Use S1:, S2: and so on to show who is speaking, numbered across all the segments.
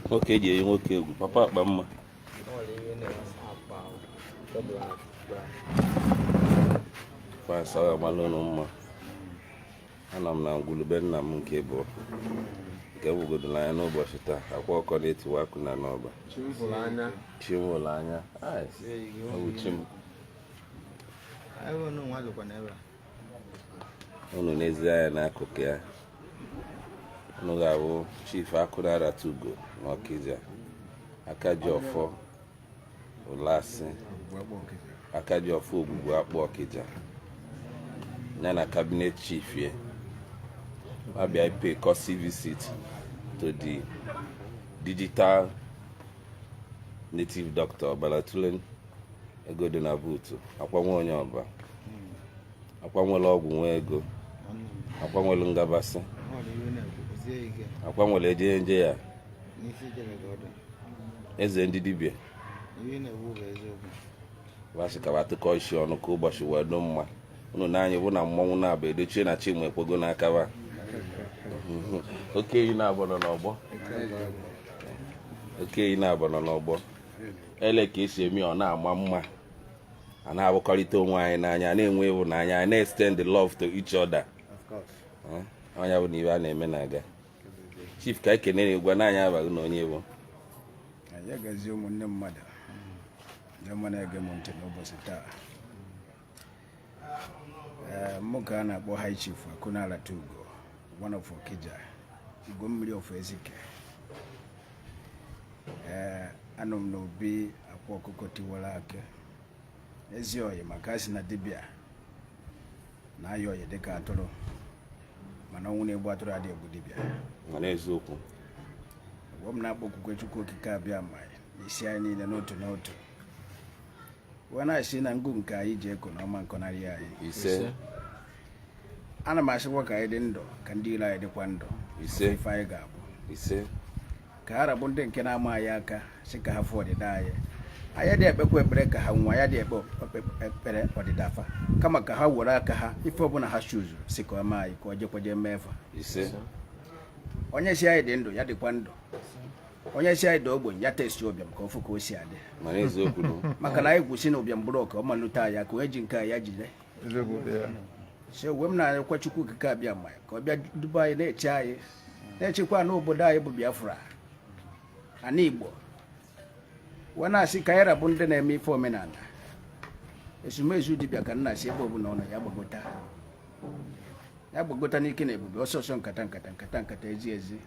S1: nwoke eji eyi nwoke egwu papa akpa mma fasaga mara ụnụ mma anọ m na ngwulu be nna m nke bụ nke gwugodo n'anya n'ụbọchị taa akwa ọkụkọ na-etiwa akụ na n'ọba chi m hụrụ anya ọ bụ chi m unu nezie anya n'akụkụ ya unu ga-ahụ chief akụnaaratugo na ọkịja aka ji ọfọ ụlasị aka ji ọfọ ogwugwu akpụ ọkịja ya na cabinet chief ya abịa pay courtesy visit to the digital native doctor Balatulin ego dị na buutu akwa nwe onye ọba akwa nwere ọgwụ nwe ego akwa nwere ngabasị akwa nwere eje nje ya eze ndị dibịa ba sị ka ba tụkọ isi ọnụ ka ụbọchị wee dụ mma unu na anyị bụ na mmọnwụ na-abụ edochie na chi m ekwego n'akaba oke eyi na-abụ nọ n'ọgbọ oke eyi na-abụ nọ n'ọgbọ ele ka e si eme ọ na-ama mma a na-ahụkọrịta onwe anyị n'anya na-enwe ịhụnanya anyị na-extend the love to each other onye ọbụna ihe a na-eme na-aga chief ka anyị kenere gwa na anyị abaghị na onye bụ anyị agazi ụmụnne mmadụ ndị ọma na-ege m ntị n'ụbọchị taa Eh, nwoke a na-akpọ High Chief Akunala Tugo one of Okija Igwe mmiri of Ezike ee eh, anọ m n'obi akwa ọkụkọ tiwara akị ezi oyi maka a sị na dibịa na-ayọ oyi dịka atụrụ mana ọnwụ na-egbu atụrụ adịghị egbu dibịa mana eziokwu mgbe m na-akpọkukwa Chukwu Okike Abịama isi anyị niile n'otu n'otu wee na-asị na ngụ nke anyị ji eko na ọ ma nkọnarị anyị ise ana m asịkwa ka anyị dị ndụ ka ndị iro anyị dịkwa ndụ ise ife anyị ga-abụ ise ka ha rabụ ndị nke na-ama anyị aka si ka ha fụ ọdịda anyị anyị dị ekpekwa ekpere ka ha nwa ya dị ekpe ekpere ọdịda fa kama ka ha were aka ha ife ọbụla ha chuzu si ka o mee anyị ka ọ jekwaje mee fa onye si anyị dị ndụ ya dịkwa ndụ onye si anyị da ogbenye ya taste ụbịam ka ọ fụ ka o si adị mana eziokwu nụ. maka na anyị kwusi na ụbịam bụrụ ọka ọ malute ya ka onye ji nke a ya jide eziokwu dị ya so uwe m na-anyekwa chukwu okike abịama ya ka ọ bịa duba anyị na-eche anyị na-echekwa n'obodo anyị bụ biafra ana igbo wee na-asị ka anyị rabụ ndị na-eme ife omenala ezumezu dibịa ka nna si ebe ọbụla ọ nọ ya gbagota ya gbagota n'ike na ebube ọsọ ọsọ nkata nkata nkata nkata ezi ezi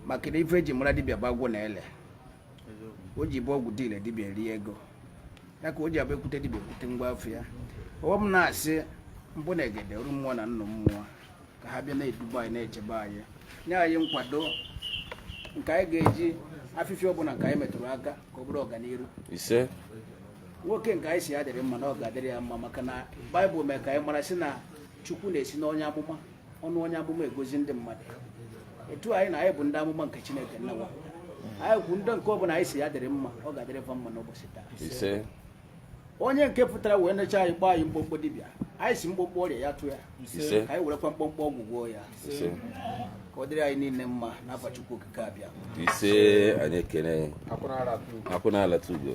S1: maka na ife eji mara dibịa bụ agwụ na ile o ji bụ ọgwụ dị ile dibịa rie ego ya ka o ji abụ ekwute dibịa ekwute ngwa afa ya ọwa m na-asị mbụ na egede ọrụ mmụọ na nnụ mmụọ ka ha bịa na-eduba anyị na-echebe anyị nye anyị nkwado nke anyị ga-eji afịfịa ọbụna nke anyị metụrụ aka ka ọ bụrụ ọganiru nwoke nke anyị si ya dịrị mma na ọ ga-adịrị ya mma maka na baịbụl mee ka anyị mara sị na chukwu na-esi n'onye amụma ọnụ onye amụma agọzi ndị mmadụ etu anyị na anyị bụ ndị amụma nke chineke n'ụwa taa anyị kwu ndị nke ọbụna anyị si ya dịrị mma ọ ga-adịrị fa mma n'ụbọchị taa onye nke pụtara wee necha anyị kpọọ anyị mkpọmkpọ dibịa anyị si mkpọmkpọ ọrịa ya tụ ya ise ka anyị werekwa mkpọmkpọ ọgwụ gwọọ ya ise ka ọ dịrị anyị niile mma n'afa Chukwu okike abịama ise anyị ekene akwụna alata ugo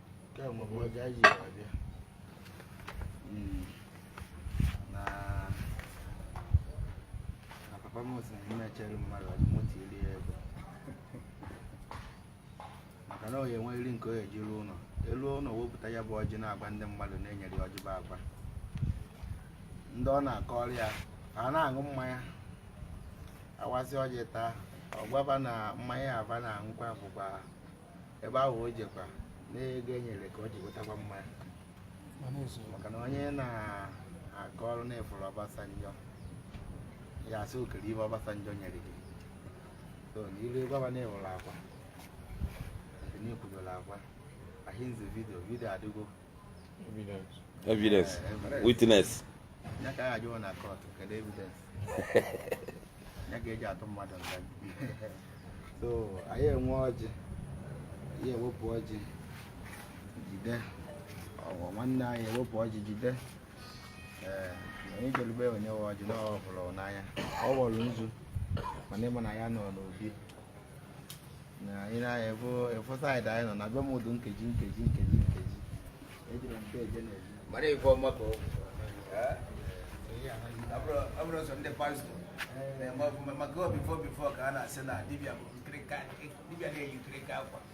S1: maka na onye nwe nri nke onye ejiri ụlọ elu ụlọ wepụta ya bụ ọjị na-agwa ndị mmadụ na-enyere ọjị bụ agba ndị ọ na-akọ ọrịa ha na-aṅụ mmanya awasị ọjị taa ọ gbaba na mmanya aba na-aṅụkwa bụkwa ebe ahụ o jekwa n'ego e nyere ka o ji wetakwa mmanya maka na onye na-akọrọ na ị fụrụ Obasanjo ya asị ọ kedu ife Obasanjo nyere gị so n'iru ebe ọba na-ewere akwa n'ikwudola akwa ahinze vidio vidio adịgo evidence evidence witness ya ka ya jụọ na court kedu evidence ya ka eji atụ mmadụ nga so anyị enwe ọjị anyị ewepụ ọjị jide ụmụnna anyị ewepụ ọjị jide ee onye jelu be onye nwe ọjị na ọ hụrụ n'anya o welu nzu mana ịma na ya nọ n'obi anyị na-efu efu saịdị anyị nọ na be m ụdụ nkeji nkeji nkeji nkeji ejiri m mpe eje na-eji mara ife ọma ka ọ bụ ọ bụrụ sọ ndị pastọ na-eme ọfụma maka before before ka a na-asị na dibịa bụ nkirika dibịa na-eyi nkirika akwa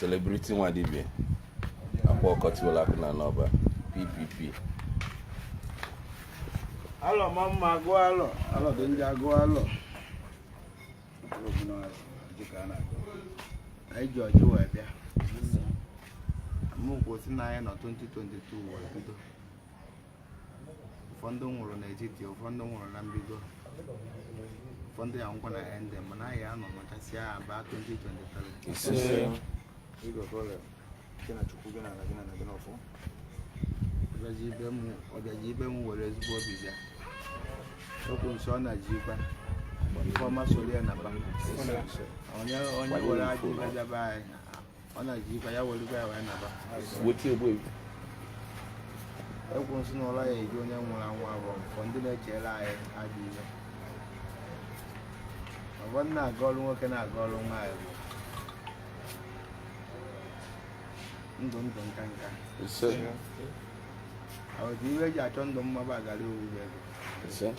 S1: Celebrity nwa dibịa akwa ọkụkọ tiwalụ akị na-anọ Ọba PPP alọ ma mma agụ alọ alọ dị ndị agụ alọ anyị ji ọjị wee bịa maka o si na anyị nọ 2022 wee bido ụfọdụ nwụrụ n'etiti ụfọdụ nwụrụ na mbido ụfọdụ ya-anwụkwa na end mana anyị anọ machasị ya aba 2023 ọbịaji ibe m ọbịaji ibe m were ezigbo obi bịa okwu nsọ ọ na-ji ikpe ife ọma soro ya naba onye onye were ajọ obi abịa be anyị ọ na-eji ife ya were ya wee naba weti egbu egbu egwu nsị na ụlọ ya eji onye nwụrụ anwụ agọ ọfọ ndị na-echere anyị adị ihe ọgbọ na-agọrọ nwoke na-agọrọ nwaanyị bụ ndụ ndụ nka nka isee ọ bụ ife eji achọ ndụ mma ba agara ọ wụ ego isee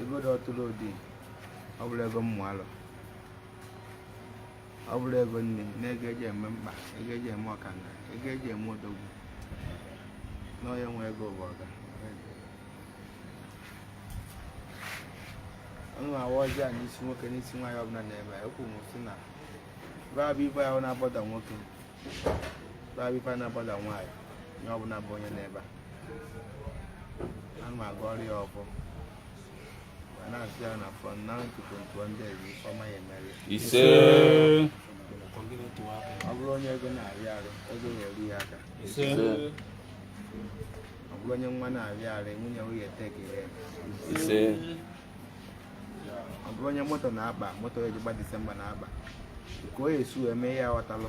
S1: ego dị ọtụtụ ụdị ọ bụrụ ego mmụ alụ ọ bụrụ ego nne na ego eji eme mkpa ego eji eme ọkanga ego eji eme odogwu na onye nwe ego bụ ọga ana m awa ọjị a n'isi nwoke n'isi nwaanyị ọbụla na-ebeku m sị na babụ ife ahụ na-agbada nwoke babụ ife na-agbada nwaanyị onye ọbụla bụ onye nọ ebe a ana m agọrọ ya ọfọ isee ọ bụrụ onye ego na-afịa arụ ego ga-eru ya aka ọ bụrụ onye nwa na-afịa arụ nwunye nwunye take in ya isee ọ bụrụ onye moto na-akpa moto eji agba disemba na-akpa ka o si wee mee ya ghọtalụ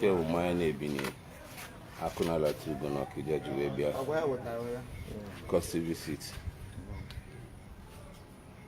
S1: Ke bụ mmanya na-ebinye akụ na alata ugo na Ọkịja ji wee bịa courtesy visit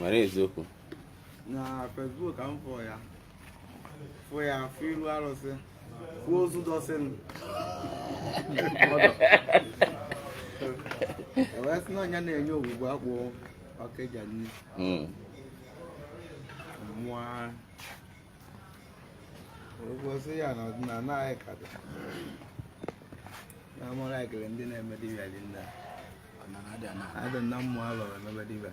S1: mana eziokwu na Facebook ka m fụ ya fụ ya fụ iru arụsị fụ ozu dọsịn ewee sị na ọ ya na-enye Ogwugwu Akpụ Ọkịja nni Mm. mụọ ogosi ya na ọdịnala anyị ka dị na mụrụ ekele ndị na-eme dibịa dị nna adị na mmụọ alọrọ emebe dibịa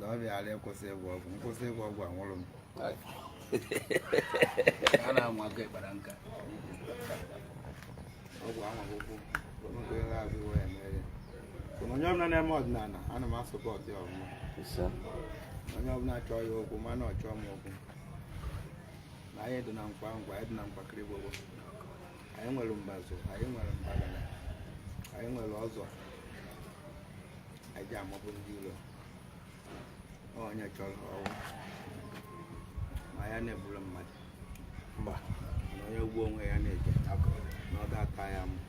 S1: na ọ bịara ịkwụsị ịgwọ ọgwụ m kwụsị ịgwọ ọgwụ anwụrụ m a na-anwa aka ịkpara nka ọgwụ anwaghị ụkwụ onye ego azụ iwe ya mere ya Mana onye ọbụla na-eme ọdịnala ana m asọpụrụ ya ọfụma Ise. onye ọbụla chọọ ya okwu mana ọ chọọ m okwu na anyị dị na nkwa nkwa anyị dị na nkwakịrị gbogbo anyị nwere mbazụ anyị nwere mbagana anyị nwere ọzọ anyị ji amabụ ndị ilo onye chọrọ ọgwụ ma ya na-egburu mmadụ mba na onye ugbo onwe ya na-eje na ọ ga-aka ya mma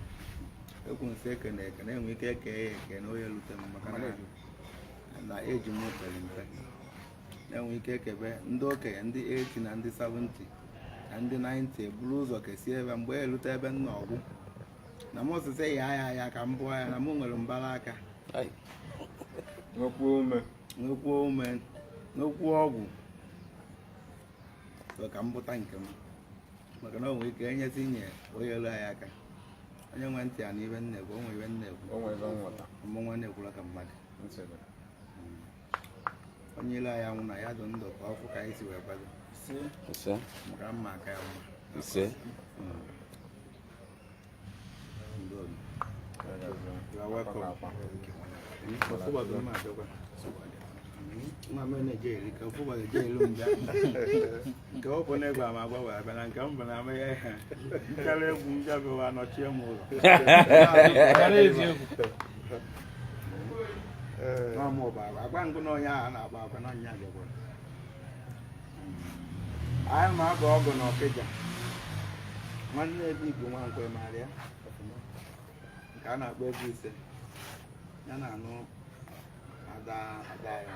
S1: ekwu nsị eke na eke na-enwe ike eke ya eke na onye lute m maka na- na eji m pere mpe e nwee ike kebe ndị okenye ndị 80 na ndị 70 na ndị 90 eburu ụzọ kesie ebe mgbe ya erute ebe m nọ ọ gwụ na m osise ya ya ya ka m bụọ ya na m nwere mbara aka nwekwuo ume nwekwuo ume nwekwuo ọgwụ so ka m bụta nke m maka na o nwere ike enyezi nye onye elu anyị aka onye nwe ntị ya nụ ihe m na-ekwu o nwere ihe m na-ekwu o nwere ihe nghọta ọmụ nwa na-ekwula ka mmadụ nsogbu onye ilo anyị anwụna ya dị ndụ ka ọ fụ ka anyị si wee kwado ise maka mma aka ya mma ise Ndị ọzọ. You are welcome. Ọfụba bụ mma abịakwa. Mma mee na-eje eri ka ọfụba ga-eje elu mgbe nke ọ bụ n'egwu ama agwa wee abịa na nke m bụ na amaghị ihe nkara egwu m bịa bịawa nọchie m ụlọ nọ m ụba agwa ngụ na onye ahụ na-agba agwa na onye agagwa anyị ma agụ ọgụ na Ọkịja nwanne ebe igbo nwa nkwe maara ya ọfụma nke a na-akpọ ebe ise ya na-anụ ada ada ya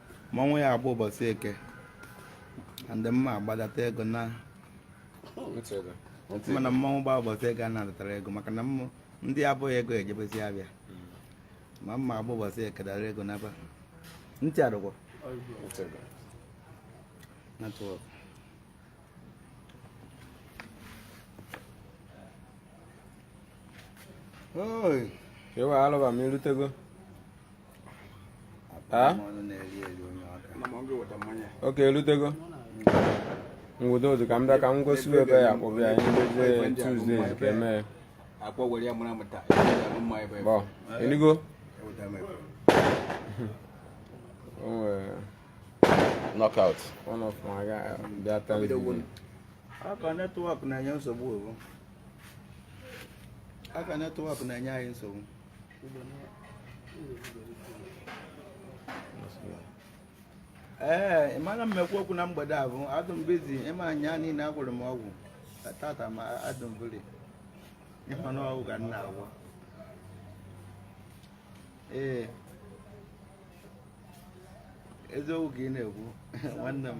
S1: mmanwụ ya agba ụbọchị eke ndị mma agbadata ego na mana mmanwụ gba ụbọchị eke a na-adatara ego maka na ndị abụghị ego ejebezi afịa ma mma agba ụbọchị eke dara ego n'aba ntị adụgwọ network Oi. Eu alaba mi lutego. okay orutego ngwụdo otu ka m bịa ka m gosi ebe ya akpọbụ ya anyị mezie Tuesday ka eme bọ eligo knockout one of my guy bịa taa aka network na-enye nsogbu aka network na-enye anyị nsogbu ee ị mara mmekwa okwu na mgbede a bụ adụ m busy ịma anya niile agwọrọ m ọgwụ tata ma adụ m busy ịma na ọgwụ ka m na-agwọ ee eziokwu ka ị na-ekwu nwanne m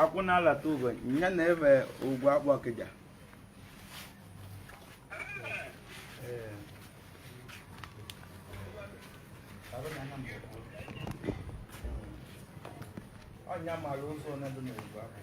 S1: akwụ na-alata ugo ya na ebe ugwu akpụ Ọkịja onye mara ụzọ onye dị n'ugwu akpụ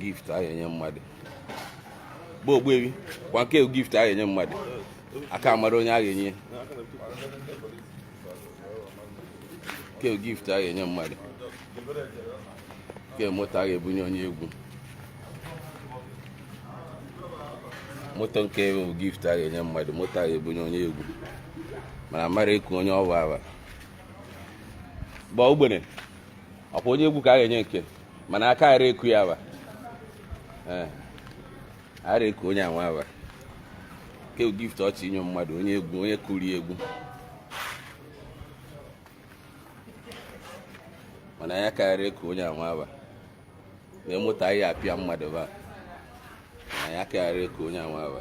S1: gift a ga-enye mmadụ bụ ogbuebi kwa nke gift a ga-enye mmadụ aka mara onye a ga-enye nke gift a ga-enye mmadụ nke moto a ga-ebunye onye egwu moto nke bụ gift a ga-enye mmadụ moto a ga-ebunye onye egwu mana mara ịkụ onye ọwa awa gba ogbene ọkwa onye egwu ka a ga-enye nke mana aka ara eku ya ba eh, ara eku onye anwa ba ke gift ọchị inye mmadụ onye egwu onye kụri egwu mana ya karịrị eku onye anwa ba na-emụta ihe apịa mmadụ ba na ya karịrị eku onye anwa ba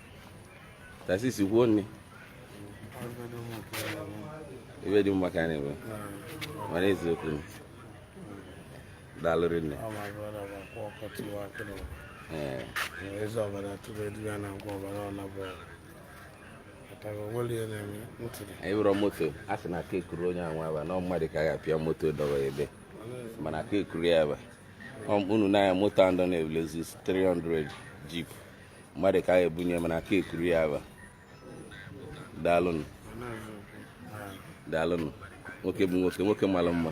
S1: tasis kwuo nne ibe dị mma ka a na-eme mana eziokwu daalụ rinne ee eze ọbara tụrụ edu ya na agwa ọbara ọna bụ ọtara onwere ihe na-eme ntụrụ anyị wụrọ moto a sị na aka ekuru onye anwa aba na mmadụ ka a ga-apịa moto dọwa ebe mana aka ekuru ya aba unu na-anya moto andọ na-ebu Lexus 300 jeep mmadụ ka a ebunye mana aka ekuru ya aba daalụnụ daalụnụ nwoke bụ nwoke nwoke mara mma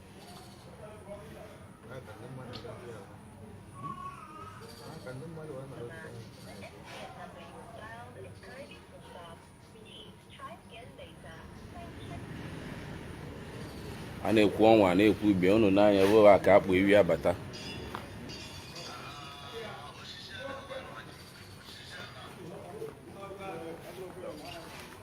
S1: a na-ekwu ọnwa a na-ekwu ife unu n'anya bụ a ka akpụ ewi abata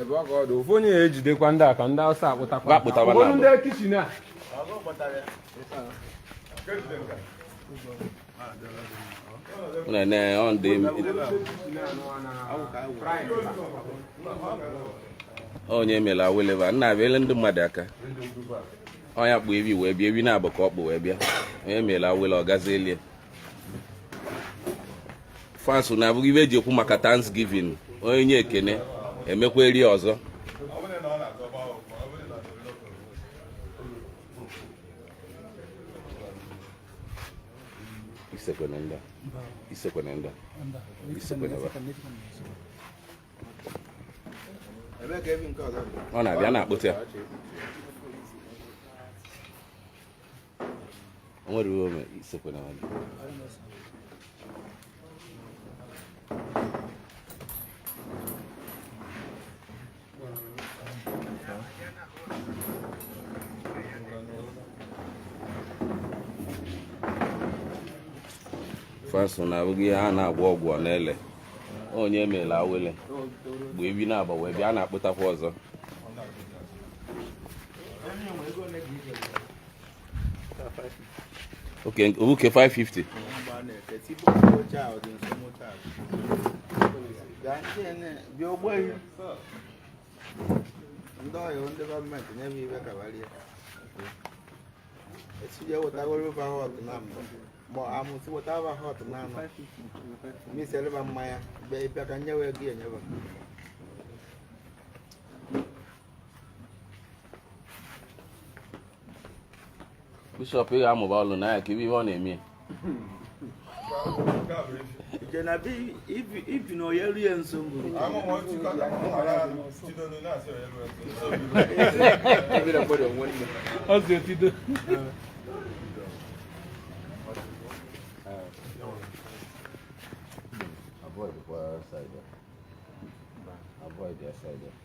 S1: ebe ọ ka ọ dị ofu onye ya ejidekwa ndị a ka ndị Awụsa akpụtakwa Akpụtakwa na Ụfọdụ abụ. ndị kichin a na-ene ọ ndị onye mere aweleva nna abịa ndị mmadụ aka onye kpụ ewi wee bịa ewi na-abụ ka ọ kpụ wee bịa onye mere awele ọ gazi elie fans na-abụghị ife e ji ekwu maka Thanksgiving onye nye ekene emekwa eri ọzọ isekwene ndị isekwene ndị isekwene ọ na-abịa na-akpụta ya nwere uwe ome isekwe na nwanne faso na-abụghị ihe a na-agwọ ọgwụ ọ na-ele onye mere awele mgbe ewi na-agba wee bịa na-akpụtakwa ọzọ Okay, okay, 550. ndị ọyị ndị gọọmenti nye m ibe kabarie etinye wetagoro ụba họt na mbụ ma amụsị weta ụba họt na anọ miseleba mmanya bịa ịbịa ka nyewe gị enyeba bishọp ị ga-amụba ọlụ na ya ka ive ọ na-eme ibi na onye rie nso Avoid the side. Avoid the side.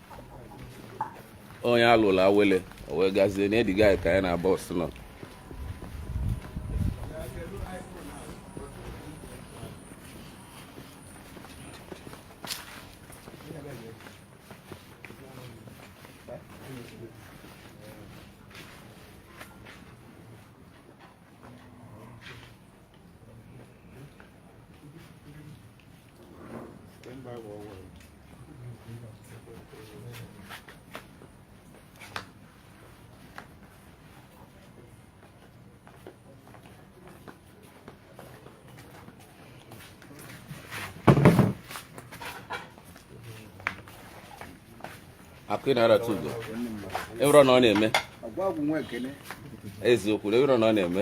S1: onye alụla awele o wee gazie na ediga ka anyị na Ọbasị nọ akụ ị na-arata ugo ịrọ na ọ na-eme eziokwu na ịrọ na ọ na-eme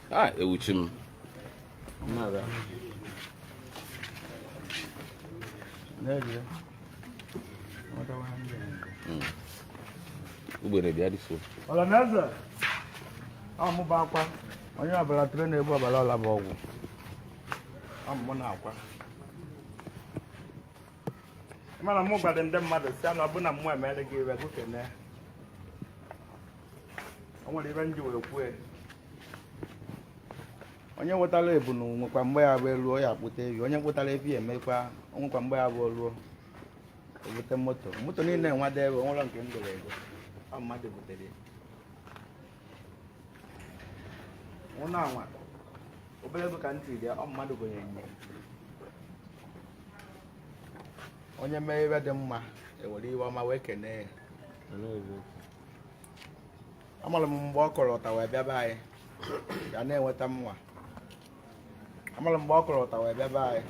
S1: a ewuchi m ugbene bịa dịso ọlanaeze ọmaba akwa onye ọbara tụrụ na-egbu ọbara ọla bụ ọgwụ amụmụ na akwa mana mụ gwara ndị mmadụ si na ọbụna mụ emere gị ive gị kene o nwere ive m ji wee kwue onye wetara ebunu nwekwa mgbe ya bụ eruo ya akpụta evi onye kpụtara evi emekwa onwekwa mgbe ya bụ ruo ebute moto moto niile nwa debe onwere nke e goro ego ọ mmadụ butere ya ụnọ a nwa obere ego ka ntị dị ọ mmadụ gonye nye onye mee ive dị mma e were ive ọma wee kenee ya amara m mgbe ọ kọrọ ụta wee bịaba anyị ya na-enweta mma amara mgbe ọ kọrọ ụta wee bịaba anyị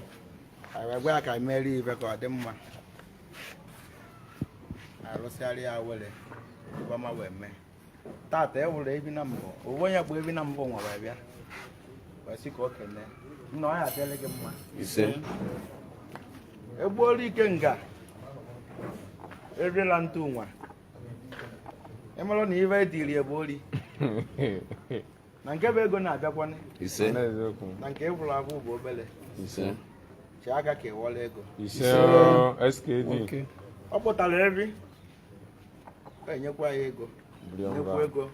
S1: anyị wee gwa ya ka anyị merie ive ka ọ dị mma arụsịara ya were ive ọma wee mee tata ewere ebi na mbụ owe onye bụ ebi na mbụ nwere bịa wee sị ka o kene nna ọ ya adịrị gị mma ise egbuola Ikenga erila ntụ nwa ịmarụ na ife dịrị ebe ori na nke bụ ego na-abịakwanị ise n'eziokwu na nke ị fụrụ afụ bụ obere ise chi aka ka ịwọla ego ise o, skd ọ kpụtara eri enyekwa ya ego nnekwu ego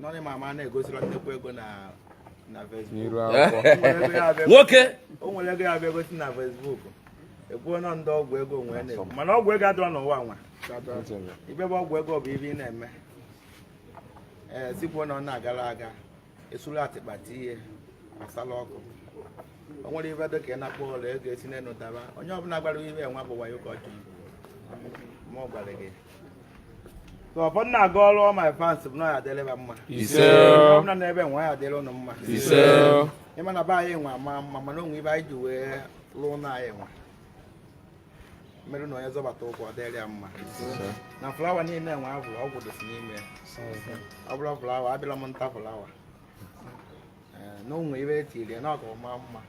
S1: nọrị ma ama na-egosila nnekwu ego na na Facebook nwoke o nwere ego ya bụ egosi na Facebook ekwuo na ndị ọgwụ ego nwee na-ekwu mana ọgwụ ego adịrọ n'ụwa nwa ife bụ ọgwụ ego bụ ife ị na-eme ee sikwuo na ọ na-agara aga esuru atịkpa tinye asala ọkụ o nwere ife dị ka ị na-akpọ ụlọ ego esi n'enu daba onye ọbụla gwara ife nwa bụ wayo ka ọ jụrụ ma ọ gwara gị ka ọ bụrụ na-aga ọrụ ọ my fans bụ na ya adịrịba mma Ise. Onye ọbụla n'ebe nwa ya adịrị ụnụ mma Ise. ịma na be anyị nwa ma mma mana o nwe ife anyị ji wee lụọ na anyị nwa mere na onye zọbata ụkwụ ọ dịrị ya mma na flawa niile enwe abụ ọgwụ dịsị n'ime ya ọ bụla flawa abịala m nta flawa Ee, na o nwe ife e tiri ya na ọka ọma mma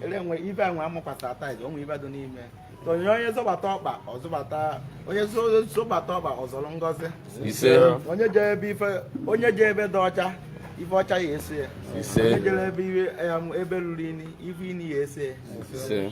S1: ele nwe ibe enwe amakwasa tiles o nwe ife dị n'ime ya. So, onye onye zọbata ọkpa ọ zọbata onye zo- zọbata ọkpa ọ zọrọ ngọzi ise onye je ebe ife onye je ebe dị ọcha ife ọcha ya eso ya Ise. onye jere ebe iwe- em, ebe ruru inyi ife inyi ya eso ya ise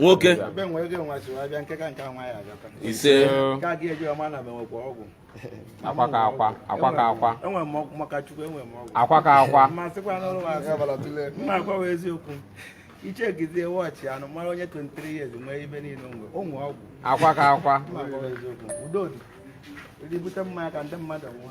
S1: nwoke ise akwa ka akwa akwa ka akwa akwa ka akwa ichegizie wọchị anụ mara onye 23 years nwee ife niile onwe onwe ọgwụ akwa ka akwa udo dị ndị bute mmanya ka ndị mmadụ ṅụọ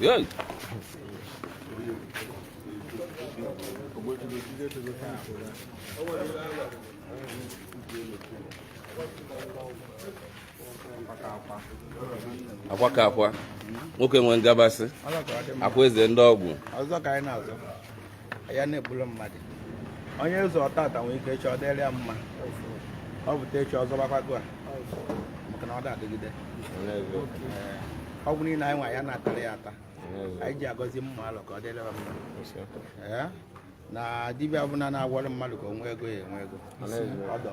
S1: Yay! akwa ka akwa nwoke nwee ngabasị akwa eze ndị ọgwụ ya na-egburu mmadụ onye ụzọ ọtata nwere ike echi ọ dịrị ya mma ọ bụta echi ọzọ gbakwago a maka na ọ da-adịgide ọgwụ niile anyị nwa ya na-atara ya ata anyị ji agọzi mmadụ ka ọ dịrị ya mma na dibịa ọbụla na-agwọrọ mmadụ ka o nwee ego ya enwe ego ọdọ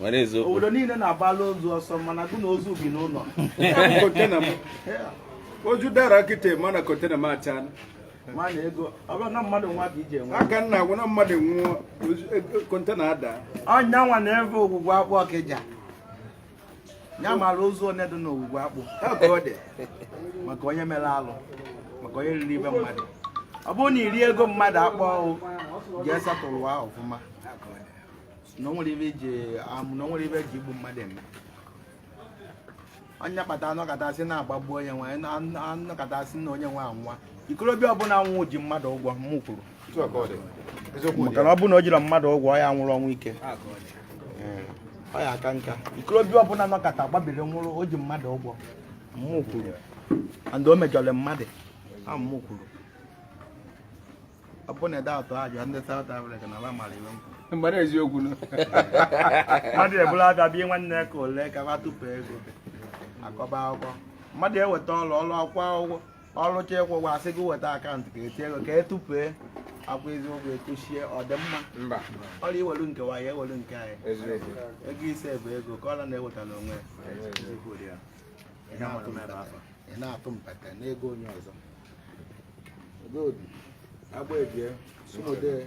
S1: nwere eziokwu obodo niile na-agbala ozu ọsọ mana gụ na ozu bi n'ụlọ oju dara kịta mana kontena m achala aka nna agwụ na mmadụ nwụọ kontena ada ọnya nwa na ebe ogwugwu akpụ ọkịja ya mara ozu onye dị n'ogwugwu akpụ maka onye mere alụ maka onye riri ibe mmadụ ọ bụrụ na iri ego mmadụ akpọ ahụ ga-esatụrụ ụwa ọfụma na o nwere ibe iji amụ na o nwere ibe eji egbu mmadụ eme onye kpata anọkata sị na agbagbu onye nwe anọkata sị na onye nwe anwa ikorobịa ọbụla nwụ ji mmadụ ụgwọ m kwuru maka na ọ bụrụ na o jirọ mmadụ ụgwọ ọ ya nwụrụ ọnwụ ike ọ ya aka nka ikorobịa ọbụla nọkata gbabiri nwụrụ o ji mmadụ ụgwọ mmụ kwuru and o mejọrọ mmadụ a mmụ kwuru ọ bụ na ede atọ ajụ ndị South Africa na ala mara iwe nkwụ mgbara eziokwu na mmadụ ebula abịa bie nwanne ka ole ka ba tupu ego akọba akwụkwọ mmadụ eweta ọrụ ọrụ akwụkwọ akwụkwọ ọlụcha ịkwụ ụgwọ asị gị weta akaụntụ ka etinye ego ka etụpee akwa eziokwu ekwuchie ọdịmma mba ọrụ iwelu nke nwaanyị ewelu nke anyị eziokwu ego ise bụ ego ka ọla na-ewetala onwe ya. Eziokwu dị ya. Ị na-atụ m ebe afọ. Ị na-atụ mpete n'ego onye ọzọ Oge obi, agba ebie, sumodee,